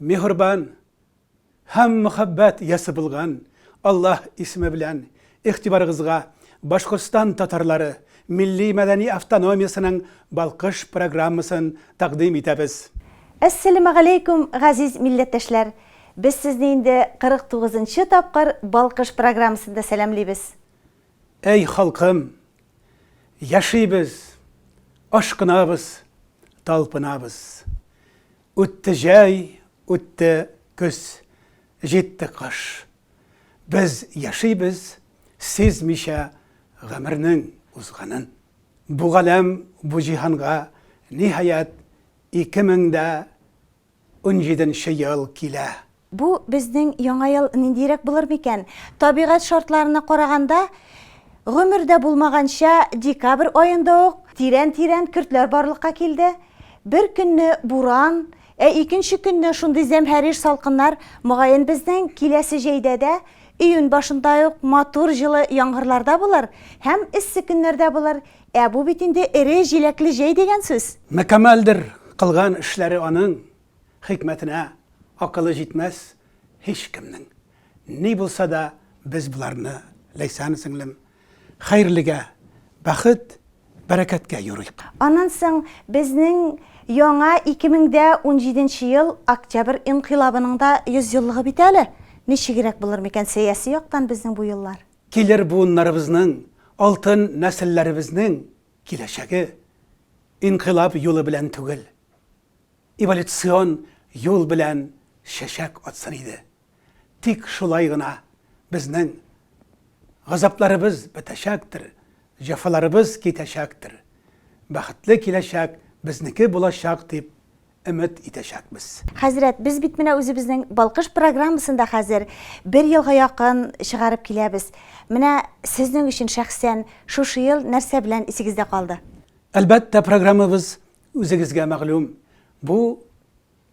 Миһрбан һәм мөхәббәт иясе булган Аллаһ исеме белән игътибарыгызга Башкортстан татарлары милли-мәдәни автономиясенең Балкыш программасын тәкъдим итәбез. Әссәләмәгаләйкүм, газиз милләттәшләр! Без сезне инде 49 нчы тапкыр Балкыш программасында сәламлибез. Әй халкым! Яшибез, ашкынабыз, талпынабыз! Үтте җәй, үтте көз, җитте кыш. Без яшибез, сизмичә гомернең узганын. Бу галәм, бу җиһанга, ниһаять, ике мең дә унҗиденче ел килә. Бу безнең Яңа ел ниндиерәк булыр микән? Табигать шартларына караганда, гомердә булмаганча декабрь аенда ук тирән-тирән көртләр барлыкка килде. Бер көнне буран, ә икенче көнне шундый зәмһәрир салкыннар, мөгаен безнең киләсе җәйдә дә июнь башында ук матур җылы яңгырлар да булыр һәм эссе көннәр дә булыр, ә бу бит инде эре җиләкле җәй дигән сүз. Мөкәммәлдер кылган эшләре аның. Хикмәтенә акылы җитмәс һичкемнең. Ни булса да без боларны, Ләйсән сеңлем, хәерлегә, бәхет, бәрәкәткә юрыйк. Аннан соң безнең яңа 2017 нче ел Октябрь инкыйлабының да 100 еллыгы бит әле. Ничегрәк булыр микән сәяси яктан безнең бу еллар? Килер буыннарыбызның, алтын нәселләребезнең киләчәге инкыйлаб юлы белән түгел. эволюцион юл белән чәчәк атсын иде. Тик шулай гына безнең газапларыбыз бетәчәктер, җәфаларыбыз китәчәктер, бәхетле киләчәк безнеке булачак дип өмет итәчәкбез. Хәзрәт, без бит менә үзебезнең Балкыш программасын да хәзер бер елга якын чыгарып киләбез. Менә сезнең өчен шәхсән шушы ел нәрсә белән исегездә калды? Әлбәттә, программабыз Үзегезгә мәгълүм, бу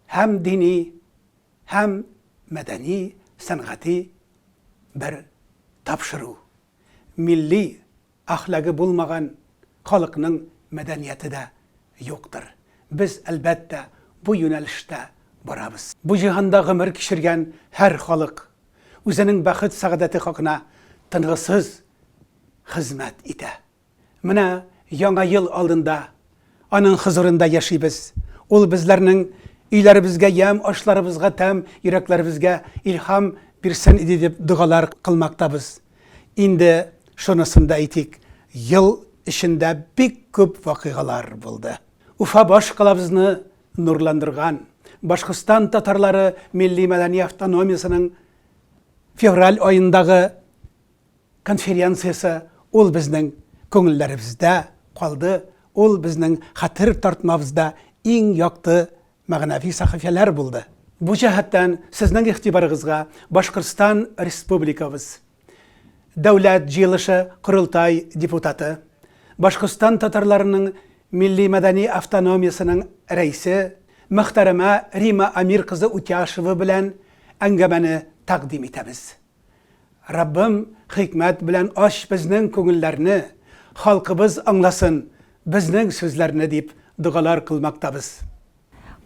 һәм дини, һәм мәдәни, сәнгати бер тапшыру. Милли әхлагы булмаган халыкның мәдәнияте дә юктыр. Без, әлбәттә, бу юнәлештә барабыз. Бу җиһанда гомер кичергән һәр халык үзенең бәхет-сәгадәте хакына тынгысыз хезмәт итә. Менә Яңа ел алдында Аның хозурында яшибез. Ул безләрнең өйләребезгә ямь, ашларыбызга тәм, йөрәкләребезгә илһам бирсен иде дип догалар кылмактабыз. Инде шунысын да әйтик, ел эчендә бик күп вакыйгалар булды. Уфа баш калабызны нурландырган, Башкортстан татарлары милли-мәдәни автономиясенең февраль аендагы конференциясе ул безнең күңелләребездә калды, ул безнең хәтер тартмабызда иң якты мәгънәви сәхифәләр булды. Бу җәһәттән сезнең игътибарыгызга Башкортстан Республикабыз Дәүләт җыелышы-Корылтай депутаты, Башкортстан татарларының милли-мәдәни автономиясенең рәисе мөхтәрәмә Рима Амир кызы Утяшева белән әңгәмәне тәкъдим итәбез. Раббым хикмәт белән ач безнең күңелләрне, халкыбыз аңласын безнең сүзләрне дип догалар кылмактабыз.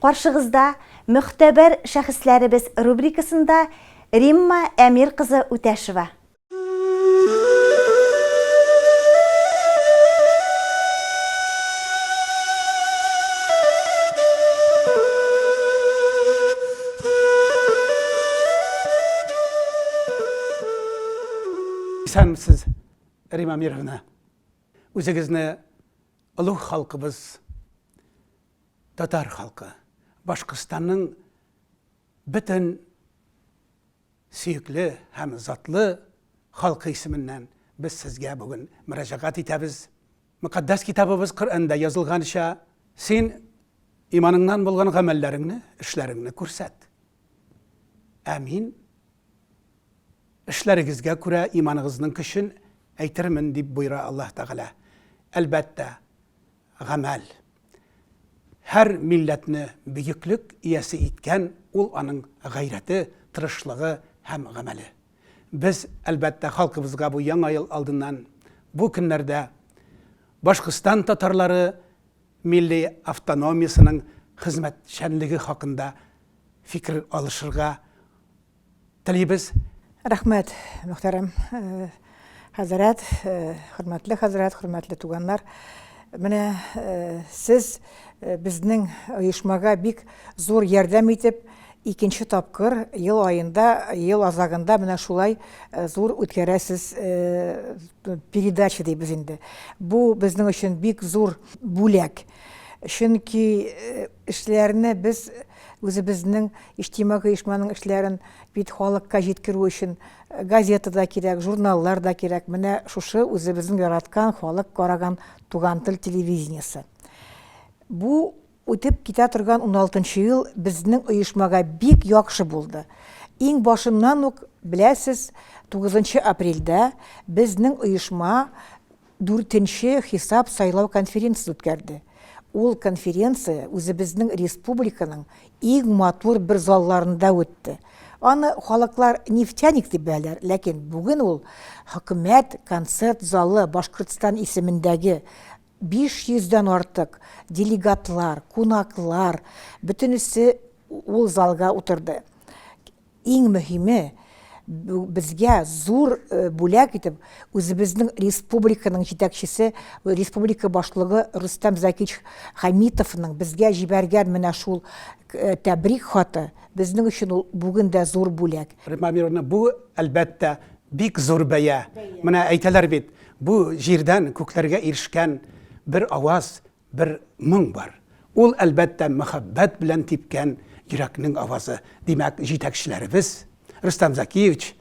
Каршыгызда Мөгътәбәр шәхесләребез рубрикасында Римма Әмир кызы Үтәшева. Исәнмесез, Рим Амировна. Үзегезне олуг халкыбыз, татар халкы, Башкортстанның бөтен сөекле һәм затлы халкы исеменнән без сезгә бүген мөрәҗәгать итәбез. Мөкатдәс Китабыбыз Коръәндә язылганча, син иманыңнан булган гамәлләреңне, эшләреңне күрсәт. Ә мин эшләрегезгә күрә иманыгызның көчен әйтермен, дип буйра Аллаһ Тәгалә. Әлбәттә, гамәл. Һәр милләтне бөеклек иясе иткән ул аның гайрәте, тырышлыгы һәм гамәле. Без, әлбәттә, халкыбызга бу Яңа ел алдыннан, бу көннәрдә Башкортстан татарлары милли автономиясенең хезмәтчәнлеге хакында фикер алышырга телибез. Рәхмәт, мөхтәрәм. Хәзрәт, хөрмәтле хәзрәт, хөрмәтле туганнар, менә сез безнең оешмага бик зур ярдәм итеп, икенче тапкыр ел аенда, ел азагында менә шулай зур үткәрәсез передача дибез инде. Бу безнең өчен бик зур бүләк. Чөнки эшләрне без үзебезнең иҗтимагый оешманың эшләрен бит халыкка җиткерү өчен Газета да кирәк, журналлар да кирәк, менә шушы үзебезнең яраткан, халык караган Туган тел телевидениесе. Бу үтеп китә торган уналтынчы ел безнең оешмага бик яхшы булды. Иң башыннан ук, беләсез, тугызынчы апрельдә безнең оешма, Дүртенче хисап сайлау конференциясен үткәрде. Ул конференция үзебезнең республиканың иң матур бер залларында үтте. Аны халыклар нефтяник дип беләләр, ләкин бүген ул Хөкүмәт концерт залы, Башкортстан исемендәге 500 дән артык делегатлар, кунаклар, бөтенесе ул залга утырды. Иң мөһиме, безгә зур бүләк итеп үзебезнең республиканың җитәкчесе, республика башлыгы Рөстәм Закич Хәмитовның безгә җибәргән менә шул тәбрик хаты, безнең өчен ул бүген дә зур бүләк. Римма Амировна, бу, әлбәттә, бик зур бәя. Менә әйтәләр бит, бу җирдән күкләргә ирешкән бер аваз, Бер моң бар. Ул, әлбәттә, мәхәббәт белән типкән йөрәкнең авазы. Димәк, җитәкчеләребез, Рөстәм Закиевич,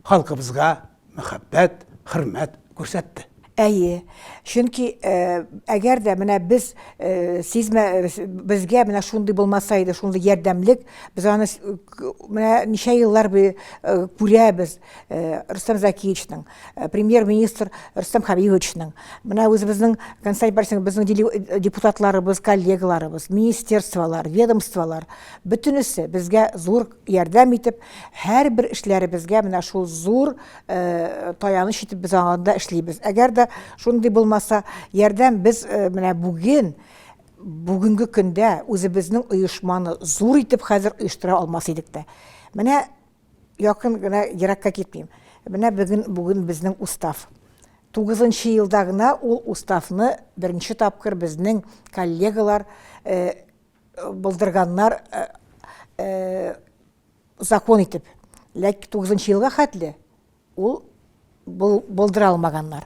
халкыбызга мәхәббәт, хөрмәт күрсәтте. Әйе. Чөнки, әгәр дә менә без сизмә, безгә менә шундый булмаса иде, шундый ярдәмлек, без аны менә ничә еллар буе күрәбез. Э, Рустам Закиевичның, э, премьер-министр Рустам Хабибовичның, менә үзебезнең консаль барсың, безнең э, депутатларыбыз, коллегаларыбыз, министерстволар, ведомстволар, бөтенесе безгә зур ярдәм итеп, һәр бер эшләребезгә менә шул зур э, таяныч итеп без аңында эшлибез. Әгәр дә шундый булмаса, ярдәм без э, менә бүген бүгенге көндә үзебезнең оешманы зур итеп хәзер оештыра алмас идек тә. Менә Якын гына, еракка китмим. Менә бүген, бүген безнең устав. Тугызынчы елда гына ул уставны беренче тапкыр безнең коллегалар э, булдырганнар э, э, закон итеп. Ләкин тугызынчы елга хәтле Ул булдыра алмаганнар.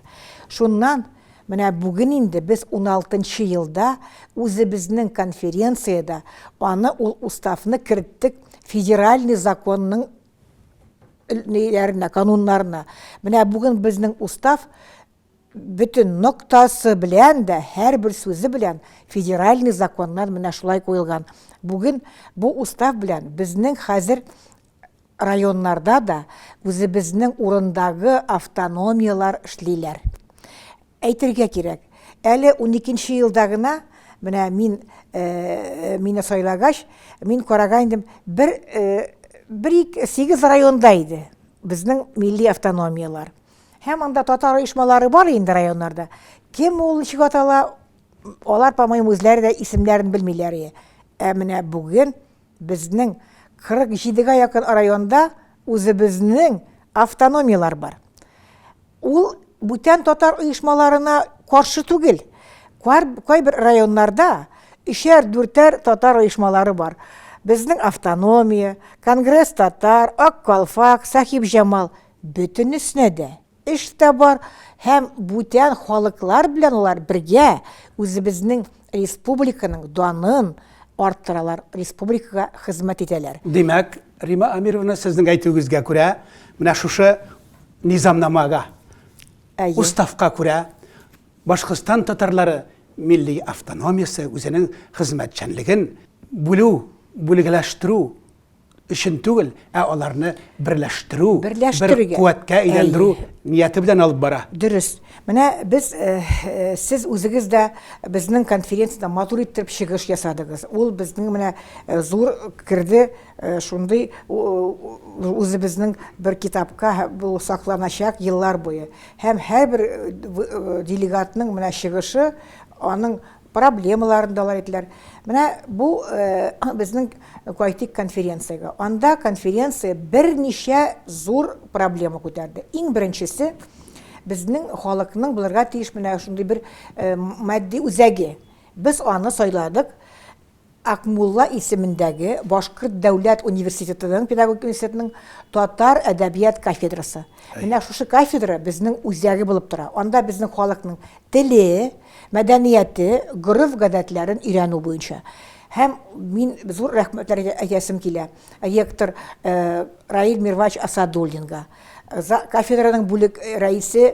Шуннан, менә бүген инде без уналтынчы елда үзебезнең конференциядә аны ул уставны керттек федеральный законның ниләренә, кануннарына. Менә бүген безнең устав Бөтен ноктасы белән дә, һәрбер сүзе белән федеральный законнар менә шулай куелган. Бүген бу устав белән безнең хәзер районнарда да үзебезнең урындагы автономияләр эшлиләр. Әйтергә кирәк, әле уникенче елда гына, менә мин, мине сайлагач, мин караган идем, бер, бер-ике, сигез районда иде безнең милли автономияләр. Һәм анда татар оешмалары бар инде районнарда. Кем ул ничек атала, алар, по-моему, үзләре дә исемнәрен белмиләр. Ә менә бүген безнең 47-гә якын районда үзебезнең автономияләр бар. Ул бүтән татар оешмаларына каршы түгел. Кайбер районнарда өчәр, дүртәр татар оешмалары бар. Безнең автономия, Конгресс татар, Ак калфак, Сахиб Җамал Бөтенесенә дә эш тә бар һәм бүтән халыклар белән алар бергә үзебезнең республиканың данын арттыралар, республикага хезмәт итәләр. Димәк, Рима Амировна, сезнең әйтүегезгә күрә, менә шушы низамнамага, уставка күрә Башкортстан татарлары милли автономиясе, үзенең хезмәтчәнлеген бүлү, бүлгәләштерү өчен түгел, ә аларны берләштерү, бер куәткә әйләндерү нияте белән алып бара. Дөрес. Менә без, сез үзегез дә безнең конференциядә матур иттереп чыгыш ясадыгыз. Ул безнең менә зур керде, шундый үзебезнең бер китапка бу сакланачак еллар буе. Һәм һәрбер делегатның менә чыгышы аның проблемаларын да алар әйттеләр. Менә бу безнең Кайтик конференциягә. Анда конференция берничә зур проблема күтәрде. Иң беренчесе безнең халыкның булырга тиеш менә шундый бер матди үзәге. Без аны сайладык. Акмулла исемендәге Башкорт дәүләт университетының педагогик университетының татар әдәбият кафедрасы. Менә шушы кафедра безнең үзәге булып тора. Анда безнең халыкның теле, мәдәнияте, гореф-гадәтләрен өйрәнү буенча һәм мин зур рәхмәтләр әйтәсем килә ректор Раил Мирвач Асадуллинга, кафедраның бүлек рәисе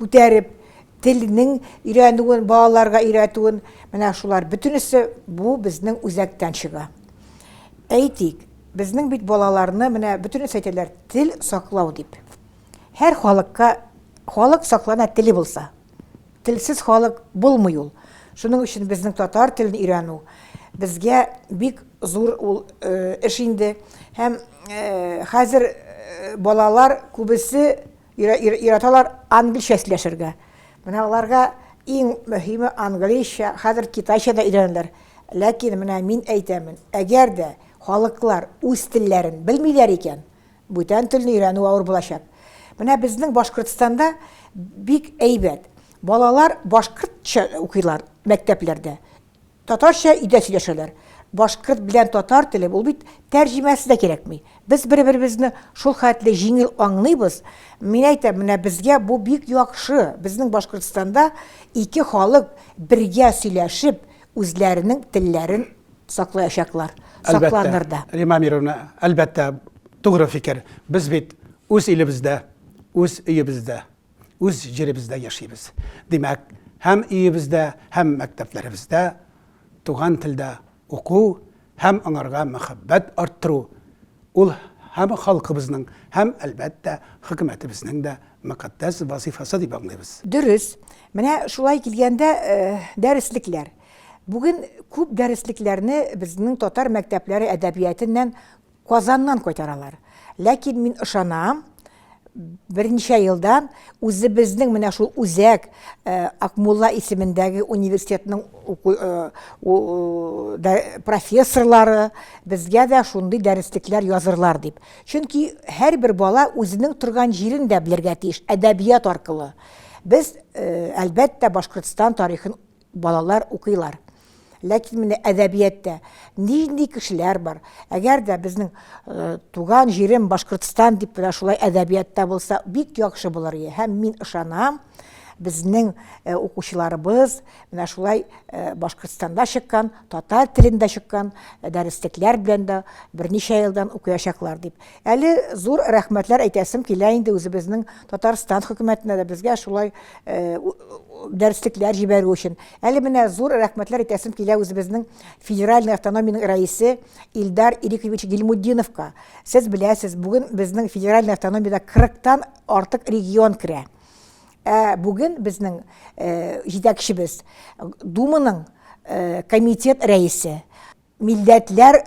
күтәреп, телнең өйрәнүен, балаларга өйрәтүен, менә шулар бөтенесе бу безнең үзәктән чыга. Әйтик, безнең бит балаларны менә бөтенесе әйтәләр, тел саклау дип. Һәр халыкка халык саклана теле булса. Телсез халык булмый ул. Шуның өчен безнең татар телен өйрәнү безгә бик зур ул э, эш инде. Һәм э, хәзер э, балалар күбесе Өйрәтәләр англичә сөйләшергә. Менә аларга иң мөһиме англичә, хәзер китайча да өйрәнәләр. Ләкин менә мин әйтәмен, әгәр дә халыклар үз телләрен белмиләр икән, бүтән телне өйрәнү авыр булачак. Менә безнең Башкортстанда бик әйбәт, балалар башкортча укыйлар мәктәпләрдә. Татарча өйдә сөйләшәләр. Башкорт белән татар теле, ул бит тәрҗемәсе дә кирәкми. Без бер-беребезне шул хәтле җиңел аңлыйбыз. Мин әйтәм, менә безгә бу бик яхшы, безнең Башкортстанда ике халык бергә сөйләшеп, үзләренең телләрен саклаячаклар, сакланыр да. Әлбәттә, Римма Амировна, әлбәттә, тугры фикер. Без бит үз илебездә, үз өебездә. үз җиребездә яшибез. Димәк, һәм өебездә, һәм мәктәпләребездә туган телдә уку һәм аңарга мәхәббәт арттыру ул һәм халкыбызның, һәм, әлбәттә, хөкүмәтебезнең дә мөкатдәс вазыйфасы дип аңлыйбыз. Дөрес. Менә шулай килгәндә, дәреслекләр. Бүген күп дәреслекләрне безнең татар мәктәпләре әдәбиятыннан Казаннан кайтаралар. Ләкин мин ышанам, берничә елдан үзебезнең менә шул үзәк Акмулла исемендәге университетның профессорлары безгә дә шундый дәреслекләр язырлар дип. Чөнки һәрбер бала үзенең торган җирен дә белергә тиеш әдәбият аркылы. Без, әлбәттә, Башкортстан тарихын Балалар укыйлар. Ләкин менә әдәбияттә нинди кешеләр бар? Әгәр дә безнең э, туган җирем Башкортстан дип менә шулай әдәбиятта булса, бик яхшы булыр иде. Һәм мин ышанам, безнең э, укучыларыбыз менә шулай э, Башкортстанда чыккан, татар телендә чыккан дәреслекләр белән дә берничә елдан укыячаклар дип. Әле зур рәхмәтләр әйтәсем килә инде үзебезнең Татарстан хөкүмәтенә дә безгә шулай дәреслекләр җибәрү өчен. Әле менә зур рәхмәтләр әйтәсем килә үзебезнең федеральный автономиянең рәисе Илдар Ирикович Гилмутдиновка. Сез беләсез, бүген безнең федеральный автономиядә 40 тан артык регион керә. Ә бүген безнең җитәкчебез Думаның комитет рәисе. Милләтләр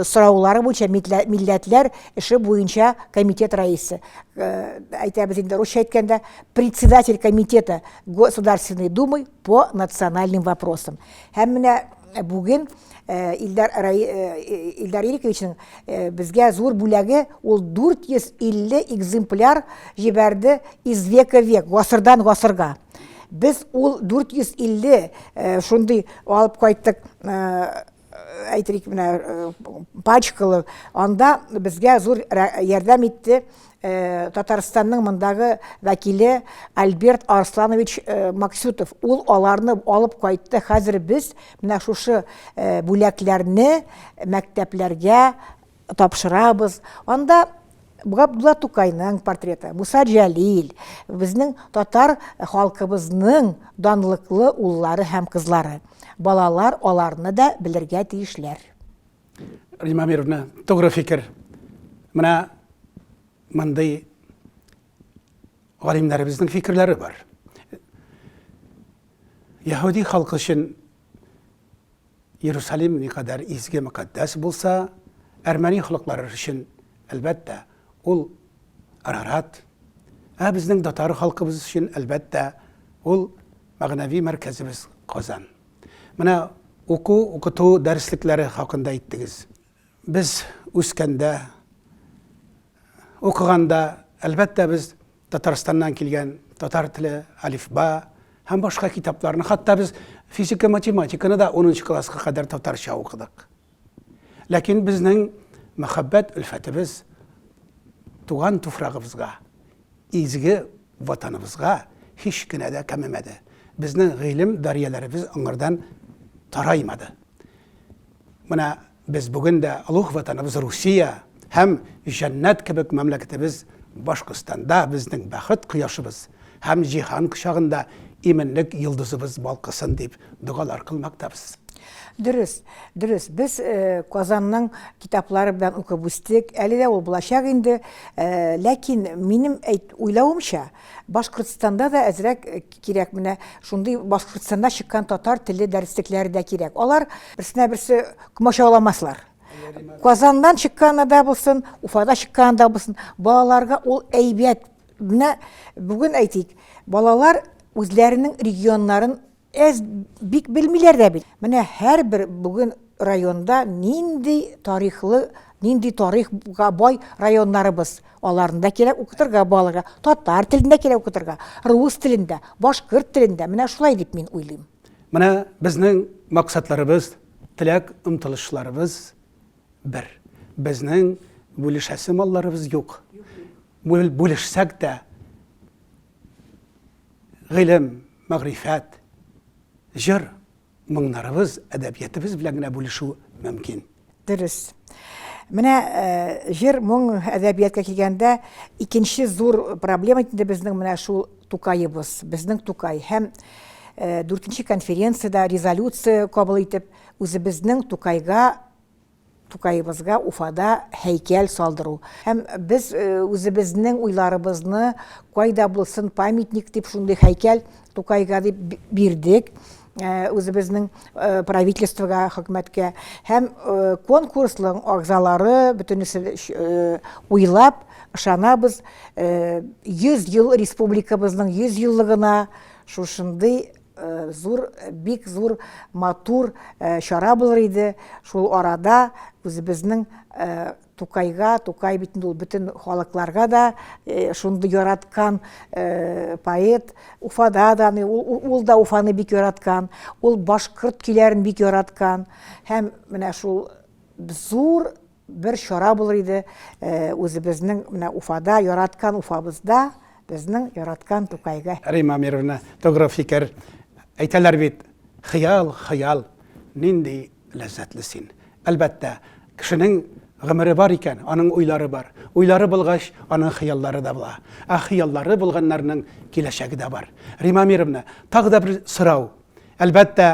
сораулары буенча милләтләр эше буенча комитет рәисе, әйтәбез инде русча әйткәндә, председатель комитета Государственной Думы по национальным вопросам. Һәм менә бүген Илдар Илдар Ириковичның безгә зур бүләге, ул 450 экземпляр җибәрде из века в век, гасырдан гасырга. Без ул 450 э, шундый алып кайттык э, әйтик менә э, пачкалы анда безгә зур ярдәм итте э, татарстанның мондагы вәкиле альберт арсланович э, максютов ул аларны алып кайтты хәзер без менә шушы бүләкләрне мәктәпләргә тапшырабыз. Анда Габдулла Тукайның портреты, Муса Җәлил, безнең татар халкыбызның данлыклы уллары һәм кызлары. Балалар аларны да белергә тиешләр. Рима Мировна, тугры фикер. Менә мондый галимнәребезнең фикерләре бар. Яһүди халкы өчен Иерусалим никадәр изге мөкатдәс булса, әрмәни халыклары өчен, әлбәттә, ул Арарат, ә безнең татар халкыбыз өчен, әлбәттә, ул мәгънәви мәркәзебез Казан. Менә уку-укыту дәреслекләре хакында әйттегез. Без үскәндә, укыганда, әлбәттә, без Татарстаннан килгән татар теле, алифба һәм башка китапларны, хатта без физика, математиканы да 10 класска кадәр татарча укыдык. Ләкин безнең мәхәббәт өлфәтебез туган туфрагыбызга, изге ватаныбызга һич кенә дә кәмемәде. Безнең гыйлем дарьяләребез аңардан тараймады. Менә без бүген дә олуг Ватаныбыз Русия һәм җәннәт кебек мәмләкәтебез Башкортстанда безнең бәхет кояшыбыз һәм җиһан кочагында иминлек йолдызыбыз балкысын дип догалар кылмактабыз. Дөрес, дөрес, без Казанның китаплары белән укып үстек, әле дә ул булачак инде, ләкин минем әйт, уйлавымча, Башкортстанда да әзрәк кирәк менә шундый Башкортстанда чыккан татар теле дәреслекләре дә кирәк. Алар берсенә берсе комачауламаслар. Казаннан чыкканы да булсын, Уфада чыкканы да булсын, балаларга ул әйбәт. Менә бүген әйтик, балалар үзләренең регионнарын Әз бик белмиләр дә бит. Менә һәрбер бүген районда нинди тарихлы, нинди тарихга бай районнарыбыз. Аларны да кирәк укытырга балага. Татар телендә кирәк укытырга, рус телендә, башкорт телендә. Менә шулай дип мин уйлыйм. Менә безнең максатларыбыз, теләк омтылышларыбыз бер. Безнең бүлешәсе малларыбыз юк. Бүлешсәк тә, гыйлем, мәгърифәт, җыр, моңнарыбыз, әдәбиятыбыз белән генә бүлешү мөмкин. Дөрес. Менә җыр, моң, әдәбияткә килгәндә, икенче зур проблема инде безнең менә шул Тукаебыз, безнең Тукай һәм дүртенче конференциядә резолюция кабул итеп, үзебезнең Тукайга Тукаебызга Уфада һәйкәл салдыру һәм без үзебезнең уйларыбызны кайда булсын памятник дип шундый һәйкәл Тукайга дип бирдек үзебезнең правительствога, хөкүмәткә һәм конкурсның агзалары бөтенесе уйлап, ышанабыз, 100 ел республикабызның 100 еллыгына шушындый зур, бик зур, матур чара булыр иде. Шул арада үзебезнең Тукайга, Тукай бит ул бөтен халыкларга да шундый яраткан поэт. Уфада да, ул да Уфаны бик яраткан, ул башкорт көйләрен бик яраткан. Һәм менә шул зур Бер чара булыр иде, үзебезнең менә Уфада, яраткан Уфабызда, безнең яраткан Тукайга. Римма Амировна, тугры фикер. Әйтәләр бит, хыял, хыял, нинди ләззәтле син. Әлбәттә, кешенең гомере бар икән, аның уйлары бар. Уйлары булгач, аның хыяллары да була. Ә хыяллары булганнарның киләчәге дә бар. Римма Амировна, тагы да бер сорау. Әлбәттә,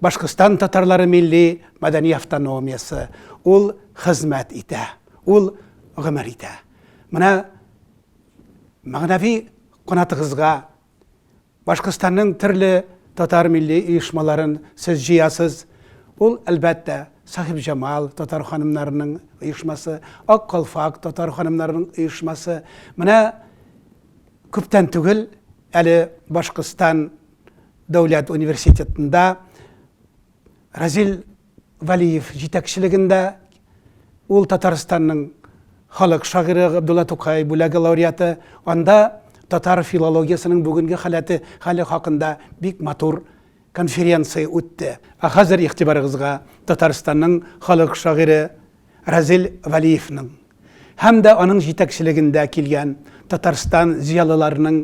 Башкортстан татарлары милли мәдәни автономиясе, ул хезмәт итә, ул гомер итә. Менә мәгънәви канатыгызга Башкортстанның төрле татар милли оешмаларын сез җыясыз. Ул, әлбәттә, Сахибҗамал татар ханымнарының оешмасы, Ак калфак татар ханымнарының оешмасы. Менә күптән түгел әле Башкортстан Дәүләт университетында Разил Вәлиев җитәкчелегендә ул Татарстанның халык шагыйре Габдулла Тукай бүләге лауреаты, анда татар филологиясенең бүгенге халәте, хәле хакында бик матур конференция үтте. Ә хәзер игътибарыгызга Татарстанның халык шагыйре Разил Вәлиевның һәм дә аның җитәкчелегендә килгән Татарстан зыялыларының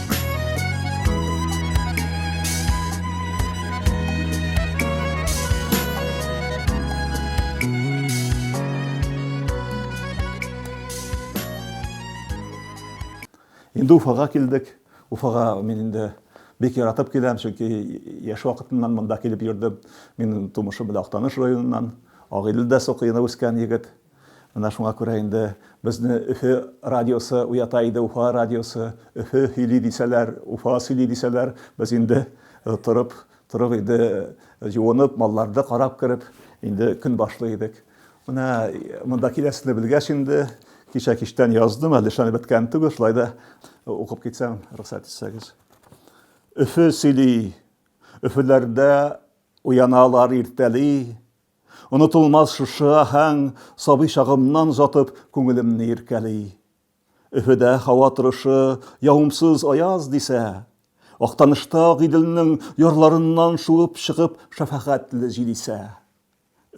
Инде Уфага килдек. Уфага мин инде бик яратып киләм, чөнки яшь вакытыннан монда килеп йөрдем. Мин тумышым белән Актаныш районыннан. Агыйдел дә Сокыйны үскән егет. Менә шуңа күрә инде безне Өфе радиосы уята иде, Уфа радиосы, Өфе һөйли дисәләр, Уфа сөйли дисәләр, без инде торып, торып инде җуынып, малларды карап кереп, инде көн башлый идек. Менә монда киләсезне белгәч инде, кичә кичтән яздым, әле эшләнеп беткән түгел, шулай да укып китсәм, рөхсәт итсәгез. Өфе сөйли, Өфеләрдә уяналар иртәли, Онытылмас шушы аһәң, Сабый чагымнан озатып, Күңелемне иркәли. Өфөдә һава торышы Явымсыз аяз дисә, Актанышта ак Иделнең Ярларыннан шуып чыгып Шәфәгатьле җил исә.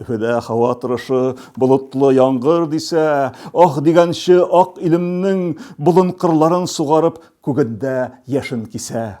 Өфөдә һава торышы Болытлы яңгыр дисә, Аһ дигәнче ак илемнең Болын-кырларын сугарып, Күгендә яшен кисә.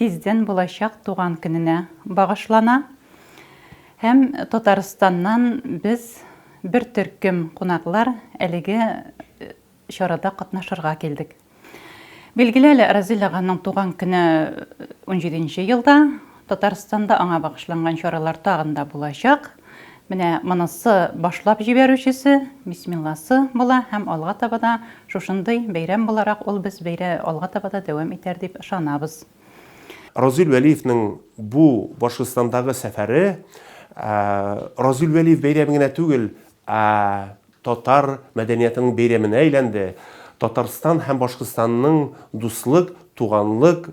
Тиздән булачак туган көненә багышлана һәм Татарстаннан без бер төркем кунаклар әлеге чарада катнашырга килдек. Билгеле әле, Разил аганың туган көне унҗиденче елда, Татарстанда аңа багышланган чаралар тагын да булачак. Менә монысы башлап җибәрүчесе, бисмилласы була һәм алга таба да шушындый бәйрәм буларак ул без бәйрә алга таба да дәвам итәр дип ышанабыз. Разил Вәлиевның бу Башкортстандагы сәфәре Разил Вәлиев бәйрәме генә түгел, ә татар мәдәниятының бәйрәменә әйләнде. Татарстан һәм Башкортстанның дуслык, туганлык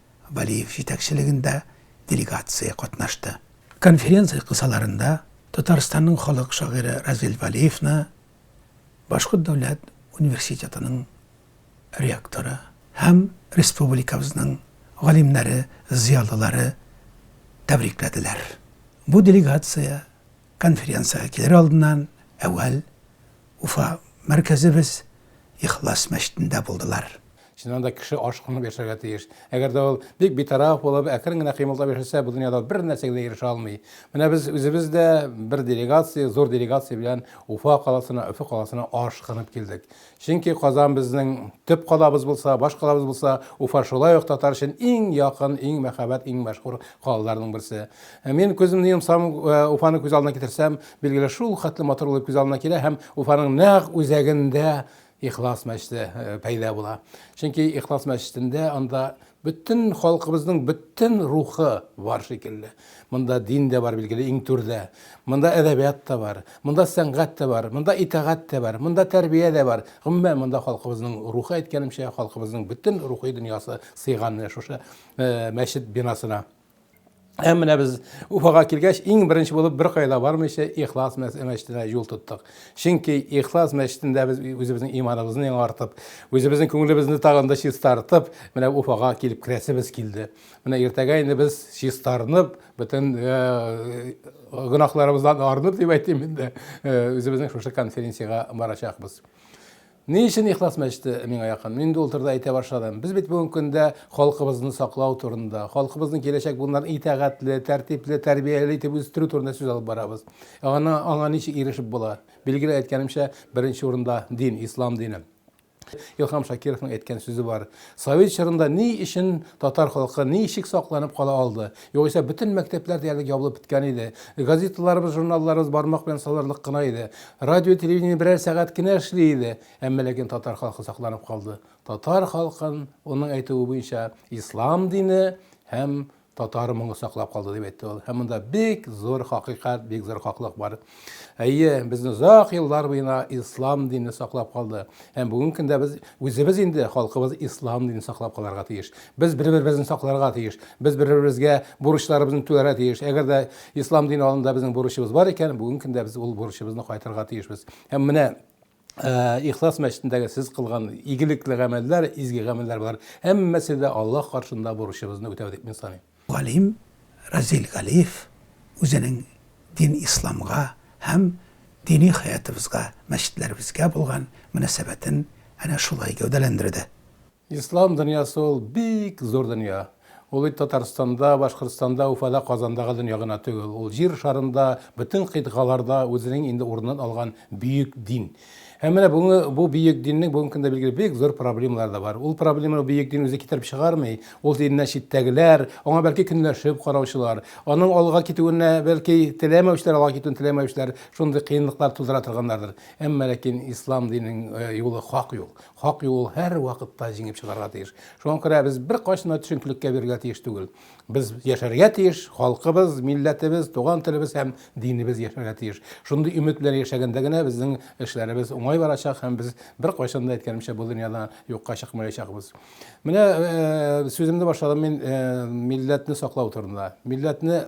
Вәлиев җитәкчелегендә делегация катнашты. Конференция кысаларында Татарстанның халык шагыйре Разил Вәлиевны Башкорт дәүләт университетының ректоры һәм республикабызның галимнәре, зыялылары тәбрикләделәр. Бу делегация конференциягә килер алдыннан әүвәл Уфа мәркәзебез Ихлас мәчетендә булдылар. Чыннан да кеше аш кунып яшәргә тиеш. Әгәр дә ул бик битараф булып, әкрен генә кыймылдап яшәсә, бу дөньяда бер нәрсәгә дә ирешә алмый. Менә без үзебез дә бер делегация, зур делегация белән Уфа каласына, Өфе каласына аш кынып килдек. Чөнки Казан безнең төп калабыз булса, баш калабыз булса, Уфа шулай ук татар өчен иң якын, иң мәхәббәт, иң мәшһүр калаларның берсе. Ә мин күземне йомсам, э, Уфаны күз алдына китерсәм, билгеле шул хәтле матур булып күз алдына килә һәм Уфаның нәкъ үзәгендә Ихлас мәчете пәйда була. Чөнки Ихлас мәчетендә анда бөтен халкыбызның бөтен рухы бар шикелле. Монда дин дә бар билгеле иң түрдә. Монда әдәбият та бар, монда сәнгать тә бар, монда итагать тә бар, монда тәрбия дә бар. Гомумән монда халкыбызның рухы әйткәнемчә, халкыбызның бөтен рухи дөньясы сыйган менә шушы мәчет бинасына. Ә менә без Уфага килгәч, иң беренче булып бер кайда бармыйча Ихлас мәчетенә юл тоттык. Чөнки Ихлас мәчетендә без үзебезнең иманыбызны яңартып, үзебезнең күңелебезне тагын да чистартып, менә Уфага килеп керәсебез килде. Менә иртәгә инде без чистарынып, бөтен э, гөнаһларыбыздан арынып дип әйтим инде, э, үзебезнең шушы конференциягә барачакбыз. Ни өчен Ихлас мәчете миңа якын? Мин инде ул турыда әйтә башладым. Без бит бүгенге көндә халкыбызны саклау турында, халкыбызның киләчәк буыннарын итәгатьле, тәртипле, тәрбияле итеп үстерү турында сүз алып барабыз. Ә ана, аңа ничек ирешеп була? Билгеле, әйткәнемчә, беренче урында дин, ислам дине. Илһам Шакировның әйткән сүзе бар. Совет чорында ни өчен татар халкы ничек сакланып кала алды? Югыйсә, бөтен мәктәпләр диярлек ябылып беткән иде. Газеталарыбыз, журналларыбыз бармак белән санарлык кына иде. Радио, телевидение берәр сәгать кенә эшли иде. Әмма ләкин татар халкы сакланып калды. Татар халкын, уның әйтүе буенча, ислам дине һәм татар моңы саклап калды, дип әйтте ул. Һәм монда бик зур хакыйкать, бик зур хаклык бар. Әйе, безне озак еллар буена ислам дине саклап калды. Һәм бүгенге көндә без үзебез инде халкыбыз ислам динен саклап калырга тиеш. Без бер-беребезне сакларга тиеш. Без бер-беребезгә бурычларыбызны түләргә тиеш. Әгәр дә ислам дине алдында безнең бурычыбыз бар икән, бүгенге көндә без ул бурычыбызны кайтарга тиешбез. Һәм менә Ихлас мәчетендәге сез кылган игелекле гамәлләр, изге гамәлләр болар һәммәсе дә Аллаһ каршында бурычыбызны үтәү дип мин саныйм. Галим Разил Галиев үзенең дин исламга һәм дини хәятыбызга, мәчетләребезгә булган мөнәсәбәтен әнә шулай гәүдәләндерде. Ислам дөньясы ул бик зур дөнья. Ул бит Татарстанда, Башкортстанда, Уфада, Казанда гы дөнья гына түгел. Ул Җир шарында, бөтен кыйтгаларда үзенең инде урынын алган бөек дин. Һәм менә бүгенге бу бөек диннең бүгенге көндә билгеле бик зур проблемалары да бар. Ул проблеманы бөек дин үзе китереп чыгармый. Ул диннән читтәгеләр, аңа бәлки көнләшеп караучылар, аның алга китүенә бәлки теләмәүчеләр, алга китүен теләмәүчеләр шундый кыенлыклар тудыра торганнардыр. Әмма ләкин Ислам диненең юлы хак юл. Хак юл һәрвакытта җиңеп чыгарга тиеш. Шуңа күрә без беркайчан да төшенкелеккә бирелгә тиеш түгел. Без яшәргә тиеш, халкыбыз, милләтебез, туган телебез һәм динебез яшәргә тиеш. Шундый өмет белән яшәгәндә генә безнең эшләребез уңай барачак һәм без беркайчан да әйткәнемчә бу дөньяда юкка чыкмаячакбыз. Менә сүземне башладым мин милләтне саклау турында. Милләтне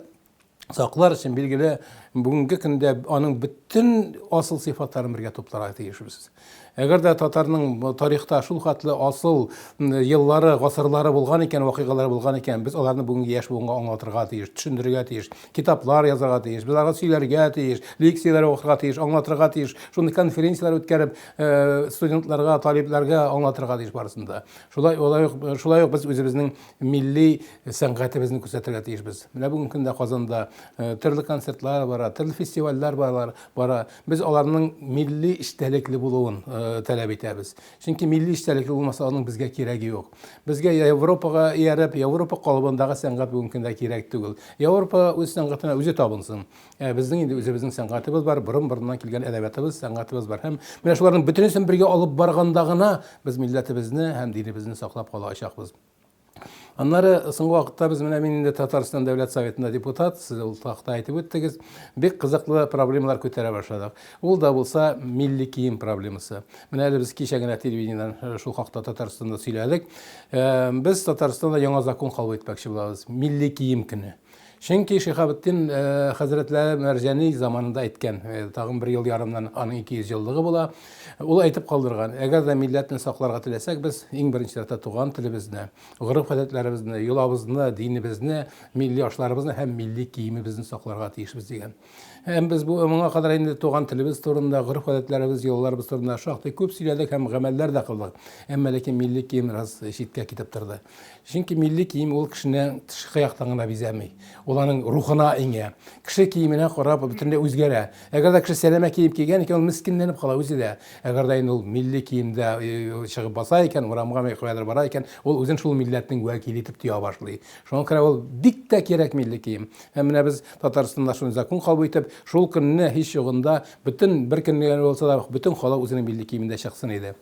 саклар өчен, билгеле, бүгенге көндә аның бөтен асыл сыйфатларын бергә тупларга тиешбез. Әгәр дә татарның тарихта шул хәтле асыл еллары, гасырлары булган икән, вакыйгалары булган икән, без аларны бүгенге яшь буынга аңлатырга тиеш, төшендерергә тиеш, китаплар язарга тиеш, без аларга сөйләргә тиеш, лекцияләр укырга тиеш, аңлатырга тиеш, шундый конференцияләр үткәреп, э, студентларга, талибләргә аңлатырга тиеш барысын да. Шулай, шулай ук без үзебезнең милли сәнгатебезне күрсәтергә тиешбез. Менә бүгенге көндә Казанда э, төрле концертлар бара, төрле фестивальләр барлар, бара. Без аларның милли эчтәлекле булуын э, таләп итәбез. Чөнки милли эчтәлекле булмаса, аның безгә кирәге юк. Безгә Европага ияреп, Европа калыбындагы сәнгать бүгенге көндә кирәк түгел. Европа үз сәнгатенә үзе табынсын. Ә безнең инде үзебезнең сәнгатебез бар, борын-борыннан килгән әдәбиятыбыз, сәнгатебез бар. Һәм менә шуларның бөтенесен бергә алып барганда гына без милләтебезне һәм динебезне саклап калачакбыз. Аннары соңгы вакытта без менә мин инде Татарстан Дәүләт Советында депутат, сез ул хакта әйтеп үттегез, бик кызыклы проблемалар күтәрә башладык. Ул да булса милли кием проблемасы. Менә әле без кичә генә телевидениедән э, шул хакта Татарстанда сөйләдек. Э, без Татарстанда яңа закон кабул итмәкче булабыз. Милли кием көне. Чөнки Шиһабетдин хәзрәтләре Мәрҗани заманында әйткән, тагын бер ел ярымнан аның 200 еллыгы була. Ул әйтеп калдырган, әгәр дә милләтне сакларга теләсәк, без иң беренче чиратта туган телебезне, гореф-гадәтләребезне, йолабызны, динебезне, милли ашларыбызны һәм милли киемебезне сакларга тиешбез дигән. Һәм без бу моңа кадәр инде туган телебез турында, гореф-гадәтләребез, йолаларыбыз турында шактый күп сөйләдек һәм гамәлләр дә кылдык. Әмма ләкин милли кием раз читкә китеп торды. Чөнки милли кием ул кешене тышкы яктан гына бизәми. Ул аның рухына иңә. Кеше киеменә карап бөтенләй үзгәрә. Әгәр дә кеше сәләмә кием кигән икән, ул мескенләнеп кала үзе дә. Әгәр дә инде ул милли киемдә э, чыгып баса икән, урамга ме- каядыр бара икән, ул үзен шул милләтнең вәкиле итеп тоя башлый. Шуңа күрә ул бик тә кирәк милли кием. Ә менә без Татарстанда шундый закон кабул итеп, шул көнне һич югында бөтен бер көнне генә булса да бөтен халык үзенең милли киемендә чыксын иде.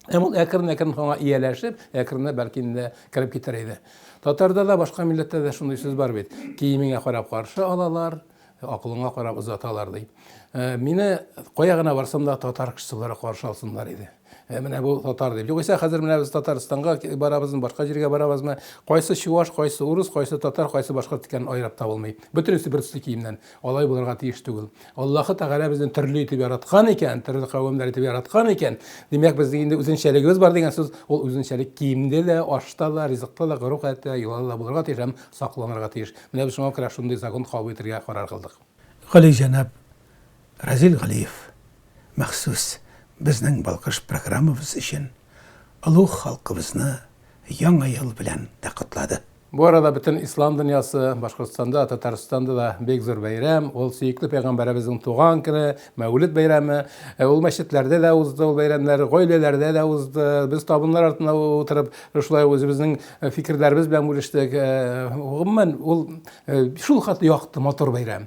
Һәм ул әкрен-әкрен аңа ияләшеп, әкренләп бәлки инде кереп китәр иде. Татарда да, башка милләттә дә шундый сүз бар бит, Киемеңә карап каршы алалар, акылыңа карап озаталар, ди. Мине кая гына барсам да татар кешесе буларак каршы алсыннар иде. Ә менә бу татар дип. Югыйсә хәзер менә без Татарстанга барабызмы, башка җиргә барабызмы, кайсы чуваш, кайсы урыс, кайсы татар, кайсы башкорт икәнен айрап табылмый. Бөтенесе бер төсле киемнән. Алай булырга тиеш түгел. Аллаһы Тәгалә безне төрле итеп яраткан икән, төрле кавемнәр итеп яраткан икән. Димәк, безнең инде үзенчәлегебез бар дигән сүз. Ул үзенчәлек киемдә дә, ашта да, ризыкта да, гореф-гадәттә, йолада да булырга тиеш һәм сакланырга тиеш. Менә без шуңа күрә шундый закон кабул итәргә карар кылдык. Галиҗәнап, Разил Галиев махсус безнең Балкыш программабыз өчен олуг халкыбызны Яңа ел белән дә котлады. Бу арада бөтен ислам дөньясы, Башкортстанда, Татарстанда да бик зур бәйрәм, ул сөекле пәйгамбәребезнең туган көне, Мәүлид бәйрәме. Ул мәчетләрдә дә узды ул бәйрәмнәр, гаиләләрдә дә узды. Без табыннар артында утырып, шулай үзебезнең фикерләребез белән бүлештек. Гомумән, ул шулкадәр якты, матур бәйрәм.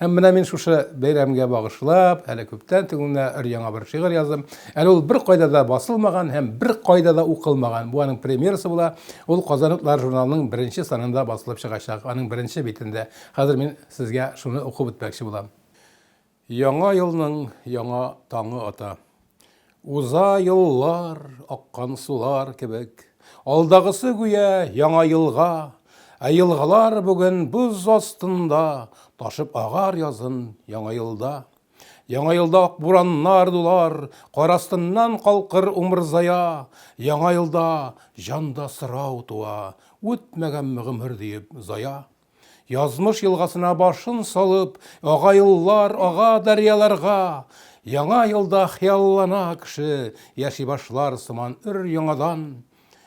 Һәм менә мин шушы бәйрәмгә багышлап, әле күптән түгеннә өр-яңа бер шигырь яздым. Әле ул беркайда да басылмаган һәм беркайда да укылмаган. Бу аның премьерасы була. Ул Казан утлары журналының беренче санында басылып чыгачак, аның беренче битендә. Хәзер мин сезгә шуны укып үтмәкче булам. Яңа елның яңа таңы ата. Уза еллар, аккан сулар кебек, Алдагысы гүя яңа елга, Ә елгалар бүген боз астында Ташып агар язын яңа елда. Яңа елда ак бураннар дулар, Кар астыннан калкыр умырзая, Яңа елда җанда сорау туа, Үтмәгәнме гомер диеп зая. Язмыш елгасына башын салып, ага юллар, ага дәрьяларга, Яңа елда хыяллана кеше, яши башлар сыман өр-яңадан.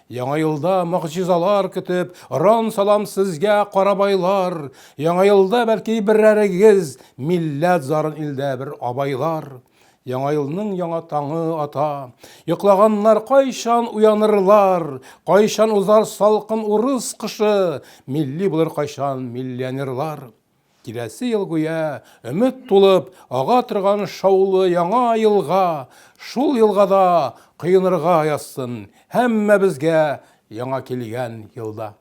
Яңа елда могҗизалар көтеп, ран салам сезгә, карабайлар, Яңа елда бәлки берәрегез, милләт зарын илдә бер абайлар. Яңа елның яңа таңы ата. Йоклаганнар кайчан уянырлар, кайчан узар салкын урыс кышы, милли булыр кайчан миллионерлар. Киләсе ел гүя өмет тулып ага торган шаулы яңа елга, шул елга да коенырга язсын һәммәбезгә яңа килгән елда.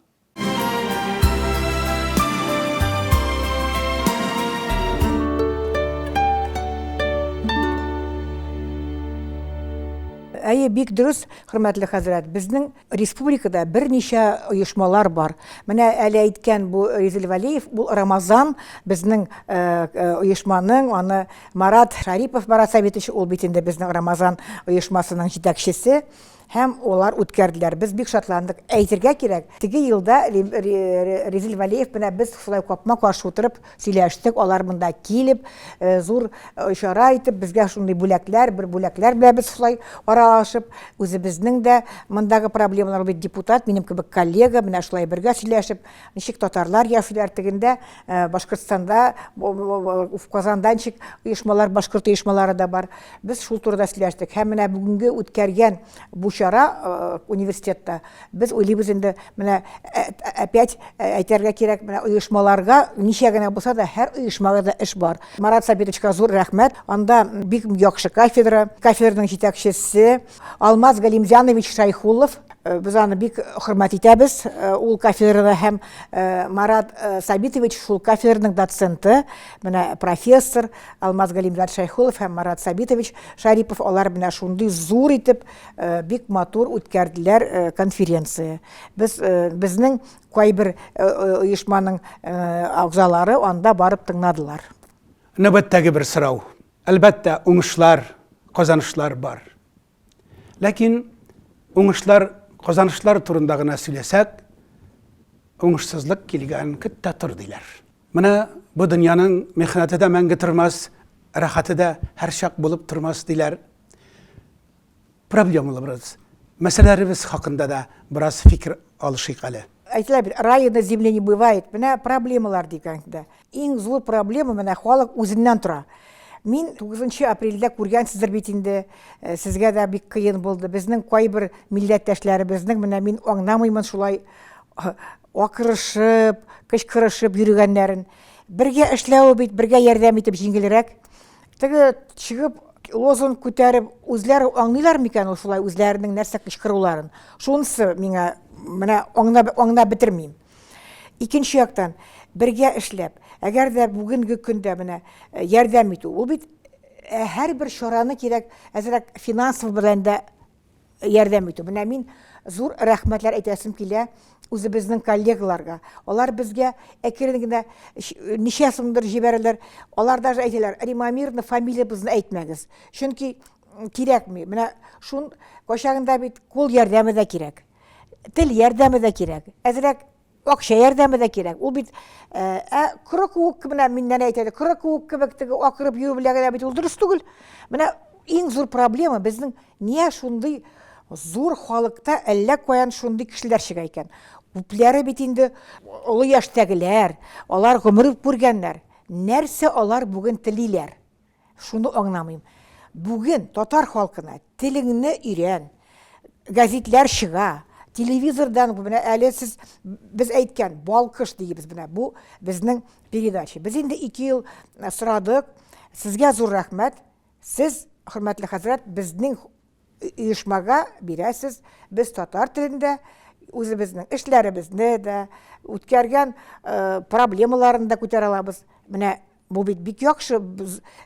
Әйе, бик дөрес, хөрмәтле хәзрәт. Безнең республикада берничә оешмалар бар. Менә әле әйткән бу Ризил Валиев, ул Рамазан безнең э, э, оешманың, аны Марат Шарипов Марат Сәбитович, ул бит инде безнең Рамазан оешмасының җитәкчесе. Һәм алар үткәрделәр. Без бик шатландык. Әйтергә кирәк, теге елда Резил Вәлиев белән без шулай капма-каршы утырып сөйләштек, алар монда килеп, зур чара итеп, безгә шундый бүләкләр, бер бүләкләр белән без шулай аралашып, үзебезнең дә мондагы проблемалар, ул бит депутат, минем кебек коллега, менә шулай бергә сөйләшеп, ничек татарлар яшиләр, тегендә Э, башкортстанда в казанданчик оешмалар башкорт оешмалары да бар без шул турыда сөйләштек һәм менә бүгенге үткәргән бу чара э, университетта без уйлыйбыз инде менә э, опять әйтергә кирәк менә оешмаларга ничә генә булса да һәр оешмага да эш бар марат сабитовичка зур рәхмәт анда бик яхшы кафедра кафедраның җитәкчесе Алмаз Галимҗанович Шайхуллов Э, без аны бик хөрмәт итәбез э, ул кафедрада һәм э, марат сабитович шул кафедраның доценты менә профессор алмаз галимжан шәйхулов һәм марат сабитович шарипов алар менә шундый зур итеп бик матур үткәрделәр конференция без безнең кайбер оешманың әгъзалары анда барып тыңладылар нәүбәттәге бер сорау Әлбәттә, уңышлар, казанышлар бар. Ләкин уңышлар, казанышлар турында гына сөйләсәк, уңышсызлык килгән көт тә тор, диләр. Менә бу дөньяның михнәте дә мәңге тормас, рәхәте дә һәрчак булып тормас, диләр. Проблемаларыбыз, мәсьәләләребез хакында да бераз фикер алышыйк әле. Әйтелә бит, рая на земле не бывает. Менә проблемалар дигәндә, иң зур проблема менә халык үзеннән тора. Мин 9 апрельдә күргәнсездер бит инде, э, сезгә дә бик кыен булды. Безнең кайбер милләттәшләребезнең менә мин аңламыймын шулай э, акырышып, кычкырышып йөргәннәрен. Бергә эшләве бит, бергә ярдәм итеп җиңелрәк. Теге чыгып лозунг күтәреп үзләре аңлыйлар микән ул шулай үзләренең нәрсә кычкыруларын? Шунысы миңа менә аңна аңна бетермим. Икенче яктан бергә эшләп, әгәр дә бүгенге көндә менә э, ярдәм итү, ул бит э, һәрбер чараны кирәк әзрәк финансов белән дә ярдәм итү. Менә мин зур рәхмәтләр әйтәсем килә үзебезнең коллегаларга. Алар безгә әкрен генә ничә сумдыр җибәрәләр. Алар даже әйтәләр, Римамирна фамилиябезне әйтмәгез. Чөнки кирәкми. Менә шун кайчагында бит кул ярдәме дә кирәк. Тел ярдәме дә кирәк. Әзрәк Акча ярдәме дә кирәк. Ул бит ә коры куык кебек, мин нәни әйтәдем, коры куык кебек теге акырып йөрү белән генә бит ул дөрес түгел. Менә иң зур проблема безнең нигә шундый зур халыкта әллә каян шундый кешеләр чыга икән. Күпләре бит инде олы яшьтәгеләр, алар гомер күргәннәр. Нәрсә алар бүген телиләр? Шуны аңламыйм. Бүген татар халкына телеңне өйрән, гәзитләр чыга, телевизордан менә әле сез без әйткән балкыш дигез менә бу безнең передача. Без инде 2 ел э, сорадык. Сезгә зур рәхмәт. Сез, хөрмәтле хәзрәт, безнең оешмага бирәсез. Без татар телендә үзебезнең эшләребезне дә, үткәргән э, проблемаларын да күтәрә алабыз. Менә Бу бит бик яхшы,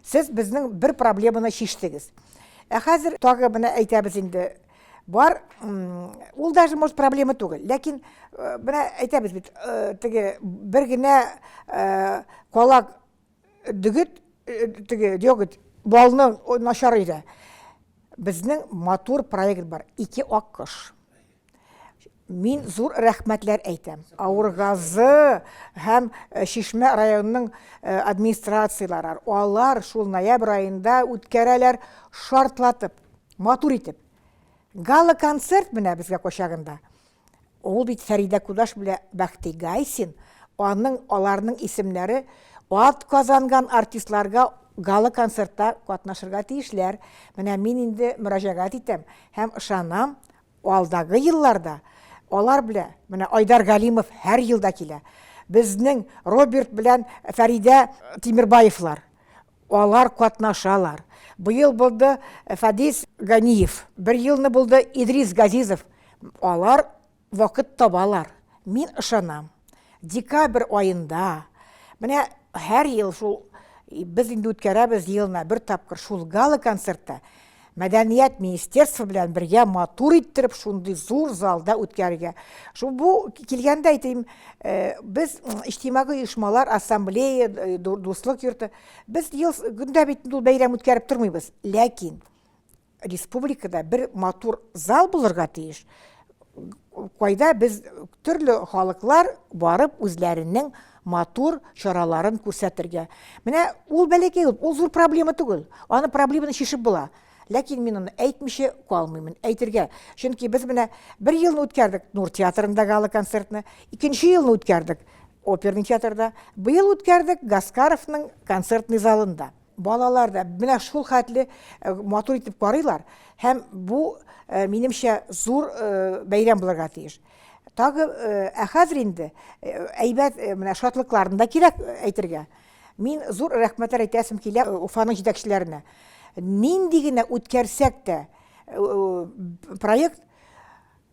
сез безнең бер проблеманы чиштегез. Ә хәзер тагы менә әйтәбез инде, бар, ул даже, может, проблема түгел, ләкин э, менә әйтәбез бит, э, теге бер генә э, калак дөгет, теге дөгет балның начар өйдә. Безнең матур проект бар, ике ак кош. Мин зур рәхмәтләр әйтәм. Авыргазы һәм э, Шишмә районының э, администрацияләре. Алар шул ноябрь айында үткәрәләр шартлатып, матур итеп. Гала концерт менә безгә качагында. Ул бит Фәридә Кудаш белән Бәхти Гайсин, аның аларның исемнәре ат казанган артистларга гала концертта катнашырга тиешләр. Менә мин инде мөрәҗәгать итәм һәм ышанам, Алдагы елларда алар белә, менә Айдар Галимов һәр елда килә. Безнең Роберт белән Фәридә Тимербаевлар, алар катнашалар. Быел булды Фадис Ганиев, бер елны булды Идрис Газизов. Алар вакыт табалар, мин ышанам. декабрь аенда менә һәр ел шул без инде үткәрәбез елына бер тапкыр шул гала концертта мәдәният министерство белән бергә матур иттереп шундый зур залда үткәрергә шул бу килгәндә әйтим э, без иҗтимагый оешмалар ассамблея э, дуслык йорты без ел көндә бит ул бәйрәм үткәреп тормыйбыз ләкин Республикада бер матур зал булырга тиеш, кайда без төрле халыклар барып үзләренең матур чараларын күрсәтергә. Менә ул бәләкәй, ул зур проблема түгел. Аны проблеманы шешеп була. Ләкин мин аны әйтмичә калмыймын, әйтергә. Чөнки без менә бер елны үткәрдек Нур театрында гала концертны, икенче елны үткәрдек оперный театрда, быел үткәрдек Гаскаровның концертный залында. Балалар да менә шул хәтле э, матур итеп карыйлар һәм бу э, минемчә зур э, бәйрәм булырга тиеш. Тагы ә хәзер инде әйбәт менә шатлыкларын да кирәк әйтергә. Мин зур рәхмәтләр әйтәсем килә Уфаның җитәкчеләренә. Нинди генә үткәрсәк тә проект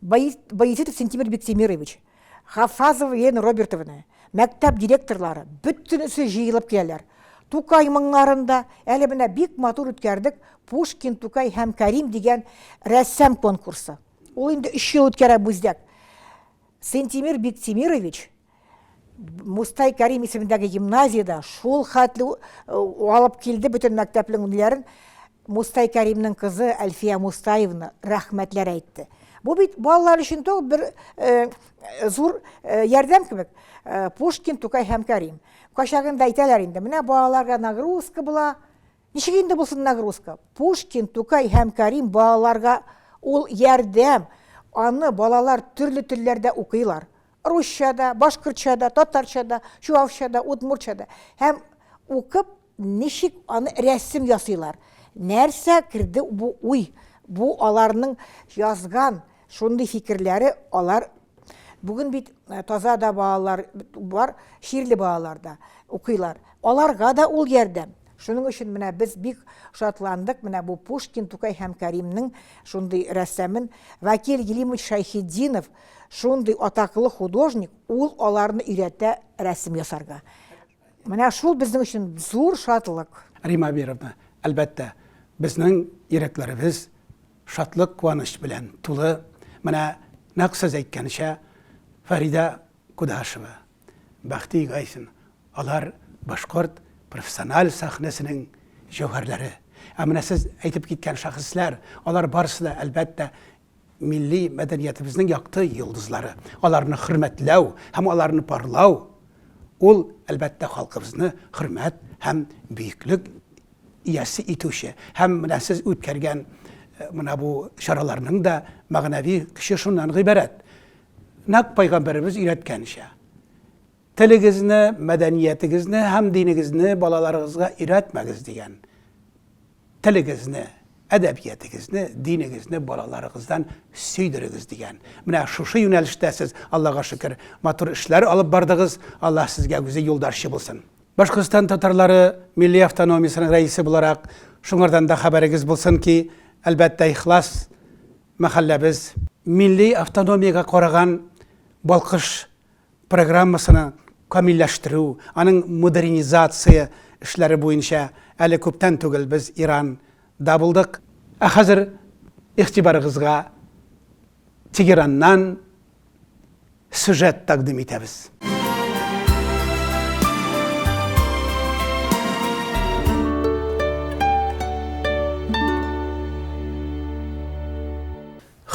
Баязитов Сентимер Биктимирович, Хафазова Елена Робертовна, мәктәп директорлары, бөтенесе җыелып киләләр. Тукай моңнарында әле менә бик матур үткәрдек Пушкин, Тукай һәм Кәрим дигән рәссам конкурсы. Ул инде өч ел үткәрә Бүздәк. Сентимир Биктимирович Мустай Кәрим исемендәге гимназиядә шул хәтле алып килде бөтен мәктәпнең ниләрен. Мустай Кәримнең кызы Әлфия Мустаевна рәхмәтләр әйтте. Бу бит балалар өчен тог бер э, зур э, ярдәм кебек. Э, Пушкин, Тукай һәм Кәрим. Качагында әйтәләр инде, менә балаларга нагрузка була. Ничек инде булсын нагрузка? Пушкин, Тукай һәм Кәрим балаларга ул ярдәм. Аны балалар төрле телләрдә укыйлар. русча да, башкортча да, татарча да, чуашча да, удмуртча да. Һәм укып, ничек аны рәсем ясыйлар. Нәрсә керде бу уй? Бу аларның язган шундый фикерләре, алар бүген бит э, таза да балалар бар, ширле балалар да укыйлар. Аларга да ул ярдәм. Шуның өчен менә без бик шатландык, менә бу Пушкин, Тукай һәм Кәримнең шундый рәссамын Вакил Елимович Шайхетдинов Шундый атаклы художник, ул аларны өйрәтә рәсем ясарга. Менә шул безнең өчен зур шатлык. Рима Абировна, әлбәттә, безнең йөрәкләребез шатлык, куаныч белән тулы. Менә нәкъ сез әйткәнчә, Фәридә Кудашева, Бәхти Гайсин, алар башкорт профессиональ сәхнәсенең җәүһәрләре. Ә менә сез әйтеп киткән шәхесләр, алар барысы да, әлбәттә, милли мәдәниятебезнең якты йолдызлары. Аларны хөрмәтләү һәм аларны парлау ул, әлбәттә, халкыбызны хөрмәт һәм бөеклек иясе итүче. Һәм менә сез үткәргән э, менә бу чараларның да мәгънәви көче шуннан гыйбарәт. Нәкъ пайгамбәребез өйрәткәнчә, телегезне, мәдәниятегезне һәм динегезне балаларыгызга өйрәтмәгез дигән Телегезне, әдәбиятегезне, динегезне балаларыгыздан сөйдерегез дигән. Менә шушы юнәлештә сез, Аллага шөкер, матур эшләр алып бардыгыз. Аллаһ сезгә үзе юлдарчы булсын. Башкортстан татарлары милли автономиясенең рәисе буларак, шуңардан да хәбәрегез булсын ки, әлбәттә, ихлас мәхәлләбез, милли автономиягә караган балкыш программасына камилләштерү, аның модернизация эшләре буенча әле күптән түгел без Иран да булдык. Ә хәзер игътибарыгызга Тегераннан сюжет тәкъдим итәбез.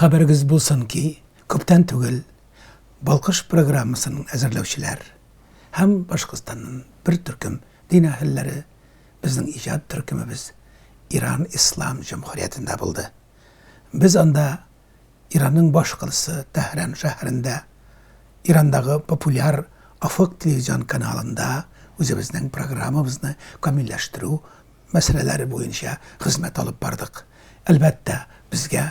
Хәбәрегез булсын ки, күптән түгел Балкыш программасын әзерләүчеләр һәм Башкортстаннан бер төркем дин әһелләре безнең иҗат төркемебез Иран Ислам җөмһүриятендә булды. Без анда Иранның башкаласы Тәһран шәһәрендә, Ирандагы популяр Афык телевизион каналында үзебезнең программабызны камилләштерү мәсьәләләре буенча хезмәт алып бардык. Әлбәттә, безгә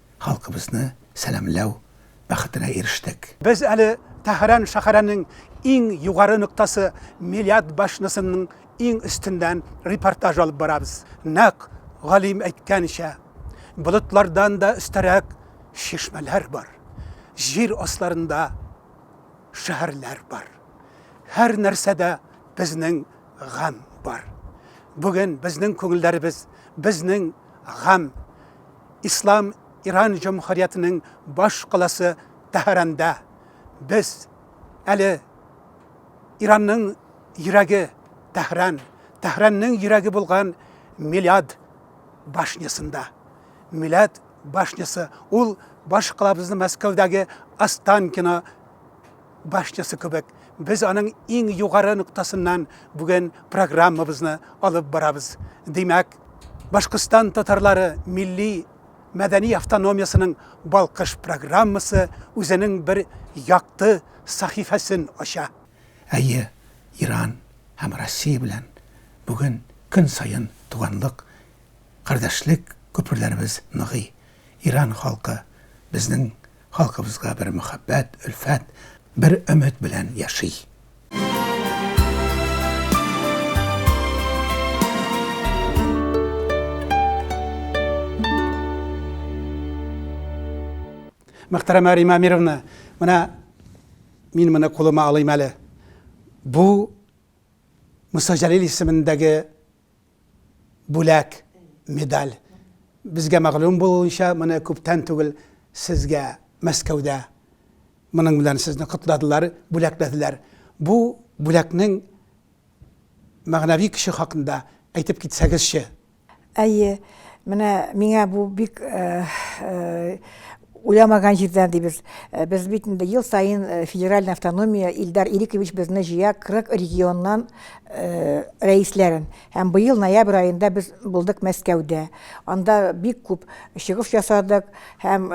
халкыбызны сәламләү бәхетенә ирештек. Без әле Тәһран шәһәренең иң югары ноктасы Миләт башнасының иң өстеннән репортаж алып барабыз. Нәкъ галим әйткәнчә, болытлардан да өстәрәк чишмәләр бар, җир асларында шәһәрләр бар. Һәр нәрсәдә безнең гамь бар. Бүген безнең күңелләребез, безнең гамь Ислам Иран җомһуриятенең баш каласы Тәһаранда без әле Иранның йөрәге Тәһран, Тәһранның йөрәге булган Милад башнясында. Милад башнясы ул баш калабызны Мәскәүдәге Останкино башчысы кебек, без аның иң югары ноктасыннан бүген программабызны алып барабыз. Димәк, Башкортстан татарлары милли мәдәни автономиясенең Балкыш программасы үзенең бер якты сәхифәсен ача. Әйе, Иран һәм Россия белән бүген көн саен туганлык, кардәшлек күперләребез ныгый. Иран халкы безнең Халкыбызга бер мәхәббәт, өлфәт, бер өмет белән яши. Мәхтәрәмә Рима Амировна, менә мин моны кулыма алыйм әле. Бу Муса Җәлил исемендәге бүләк, медаль. Безгә мәгълүм булуынча, моны күптән түгел сезгә Мәскәүдә моның белән сезне котладылар, бүләкләделәр. Бу бүләкнең мәгънәви көче хакында әйтеп китсәгезче? Әйе, менә миңа бу бик Уйламаган җирдән дибез. Э, без бит инде ел саен э, федеральный автономия Илдар Ирикович безне җыя 40 регионнан э, рәисләрен. Һәм быел ноябрь аенда без булдык Мәскәүдә. Анда бик күп чыгыш ясадык һәм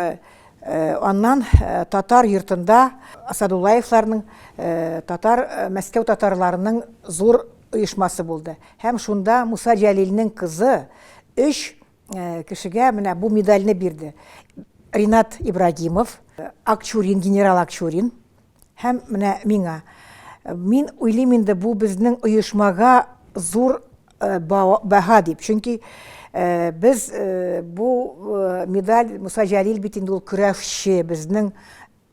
аннан татар йортында Асадуллаевларның татар Мәскәү татарларының зур оешмасы булды. Һәм шунда Муса Җәлилнең кызы 3 э, кешегә менә бу медальне бирде. Ринат Ибрагимов, э, Акчурин, генерал Акчурин һәм менә миңа. Мин уйлыйм инде бу безнең оешмага зур э, баһа дип. Чөнки без бу медаль Муса Җәлил бит инде ул көрәшче, безнең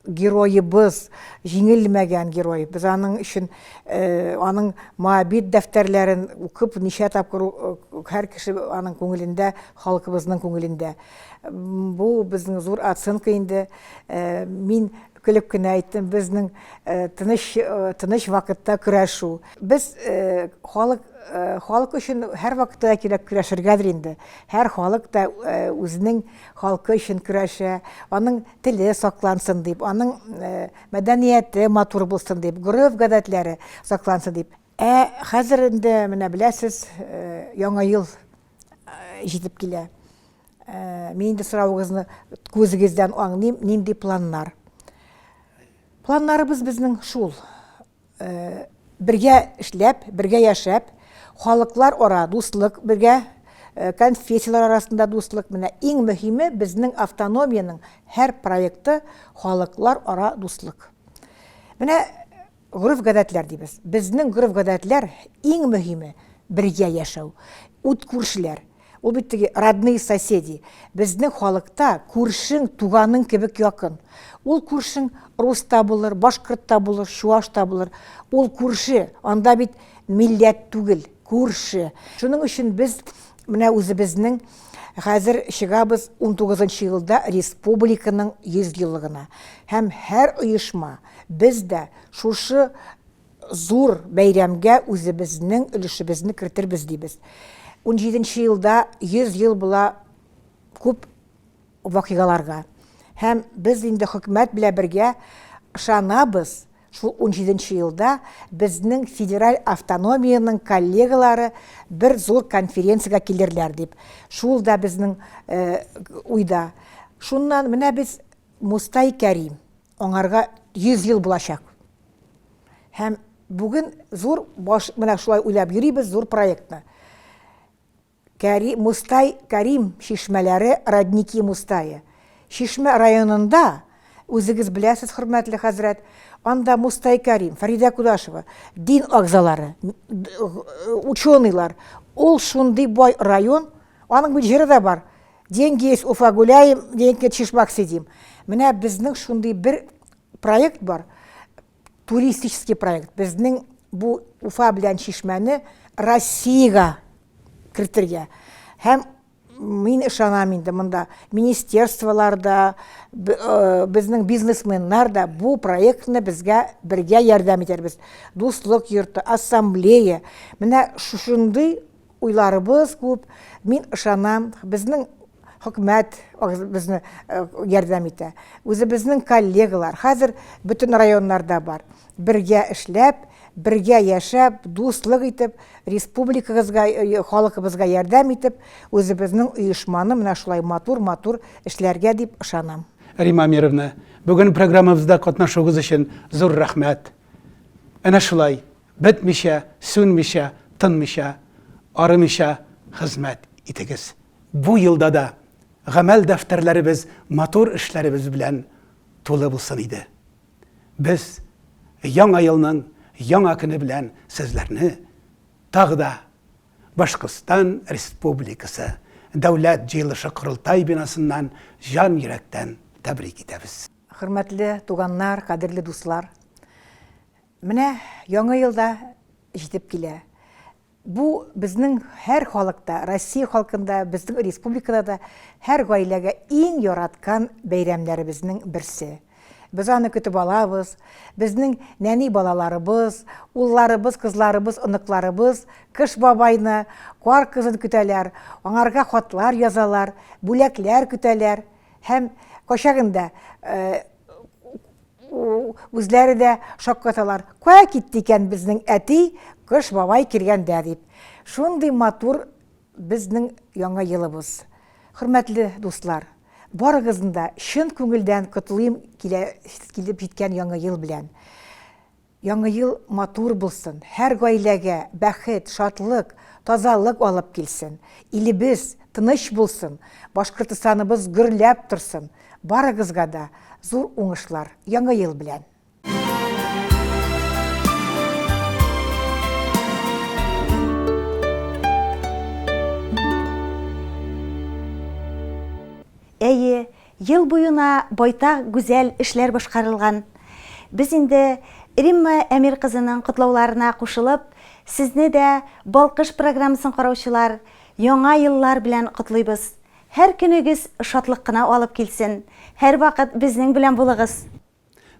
Героебыз, җиңелмәгән герой. Без аның өчен, аның Моабит дәфтәрләрен укып, ничә тапкыр һәр кеше аның күңелендә, халкыбызның күңелендә. Бу безнең зур оценка инде. Мин көлеп кенә әйттем, безнең тыныч, тыныч вакытта көрәшү. Без халык, халык өчен һәрвакытта да кирәк көрәшергәдер инде. Һәр халык та үзенең халкы өчен көрәшә, аның теле саклансын дип, аның мәдәнияте матур булсын дип, гореф-гадәтләре саклансын дип. Ә хәзер инде менә беләсез, яңа ел җитеп килә. Мин инде соравыгызны күзегездән аңлыйм, нинди планнар. Планнарыбыз безнең шул, бергә эшләп, бергә яшәп, халыклар ара дуслык бергә, конфессияләр арасында дуслык. Менә иң мөһиме безнең автономиянең һәр проекты халыклар ара дуслык. Менә гореф-гадәтләр дибез. Безнең гореф-гадәтләр иң мөһиме бергә яшәү, ут күршеләр. Ул бит теге родные соседи. Безнең халыкта күршең туганың кебек якын. Ул күршең рус та булыр, башкорт та булыр, чуаш та булыр. Ул күрше, анда бит милләт түгел, күрше. Шуның өчен без менә үзебезнең хәзер чыгабыз 19 елда республиканың 100 еллыгына. Һәм һәр оешма, без дә шушы Зур бәйрәмгә үзебезнең өлешебезне кертербез дибез. Унҗиденче елда 100 ел була күп вакыйгаларга. Һәм без инде хөкүмәт белән бергә ышанабыз, шул унҗиденче елда безнең федераль автономиянең коллегалары бер зур конференциягә килерләр дип. Шул да безнең уйда. Шуннан менә без Мустай Кәрим. Аңарга 100 ел булачак. Һәм бүген зур баш, менә шулай уйлап йөрибез зур проектны. Кәри, Мустай, Кәрим чишмәләре, родники Мустае. Чишмә районында, үзегез беләсез, хөрмәтле хәзрәт, анда Мустай Кәрим, Фәридә Кудашева, дин агзалары, ученыйлар, ул шундый бай район, аның бит җыры да бар, Деньги есть Уфа гуляем, денег нет Шишмак сидим. Менә безнең шундый бер проект бар, туристический проект. Безнең бу Уфа белән Шишмәне Россиягә кертергә. Һәм мин ышанам инде монда министерстволар да, э, безнең бизнесменнар да бу проектны безгә бергә ярдәм итәрбез. Дуслык йорты, ассамблея. Менә шушындый Уйларыбыз күп, мин ышанам, безнең хөкүмәт безне ярдәм итә. Үзебезнең коллегалар хәзер бөтен районнарда бар. Бергә эшләп, бергә яшәп, дуслык итеп, республикагызга, халыкыбызга ярдәм итеп, үзебезнең оешманы менә шулай матур-матур эшләргә дип ышанам. Римма Амировна, бүген программабызда катнашуыгыз өчен зур рәхмәт. Әнә шулай, Бетмичә, сүнмичә, тынмича, арымича хезмәт итегез. Бу елда да гамәл дәфтәрләребез матур эшләребез белән тулы булсын иде. Без Яңа елның яңа көне белән сезләрне тагы да Башкортстан Республикасы Дәүләт җыелышы-Корылтай бинасыннан җан йөрәктән тәбрик итәбез. Хөрмәтле туганнар, кадерле дуслар! Менә Яңа ел да җитеп килә. Бу безнең һәр халыкта, Россия халкында, безнең республикада да һәр гаиләгә иң яраткан бәйрәмнәребезнең берсе. Без аны көтеп алабыз, безнең нәни балаларыбыз, улларыбыз, кызларыбыз, оныкларыбыз Кыш бабайны, Кар кызын көтәләр, аңарга хатлар язалар, бүләкләр көтәләр һәм кайчагында Үзләре дә шаккаталар, Кая китте икән безнең әти, Кыш бабай килгәндә дип. Шундый матур безнең Яңа елыбыз. Хөрмәтле дуслар, барыгызны да чын күңелдән котлыйм килеп җиткән Яңа ел белән. Яңы ел матур булсын, һәр гаиләгә бәхет, шатлык, тазалык алып килсен, илебез тыныч булсын, Башкортостаныбыз гөрләп торсын, барыгызга да зур уңышлар Яңы ел белән! Әйе, Ел буена байтак гүзәл эшләр башкарылган. Без инде Римма Әмир кызының котлауларына кушылып, сезне дә, Балкыш программасын караучылар, Яңа еллар белән котлыйбыз. Һәр көнегез шатлык кына алып килсен. Һәрвакыт безнең белән булыгыз!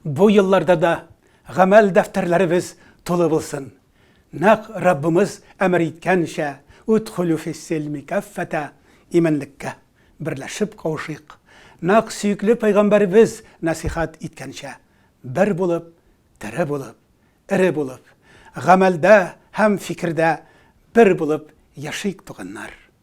Бу елларда да гамәл дәфтәрләребез тулы булсын. Нәкъ Раббымыз әмер иткәнчә, Удхулю фис-силми каффата, иминлеккә берләшеп кавышыйк. Нәкъ сөекле Пәйгамбәребез нәсыйхәт иткәнчә, бер булып, тере булып, эре булып, гамәлдә һәм фикердә бер булып яшик, туганнар!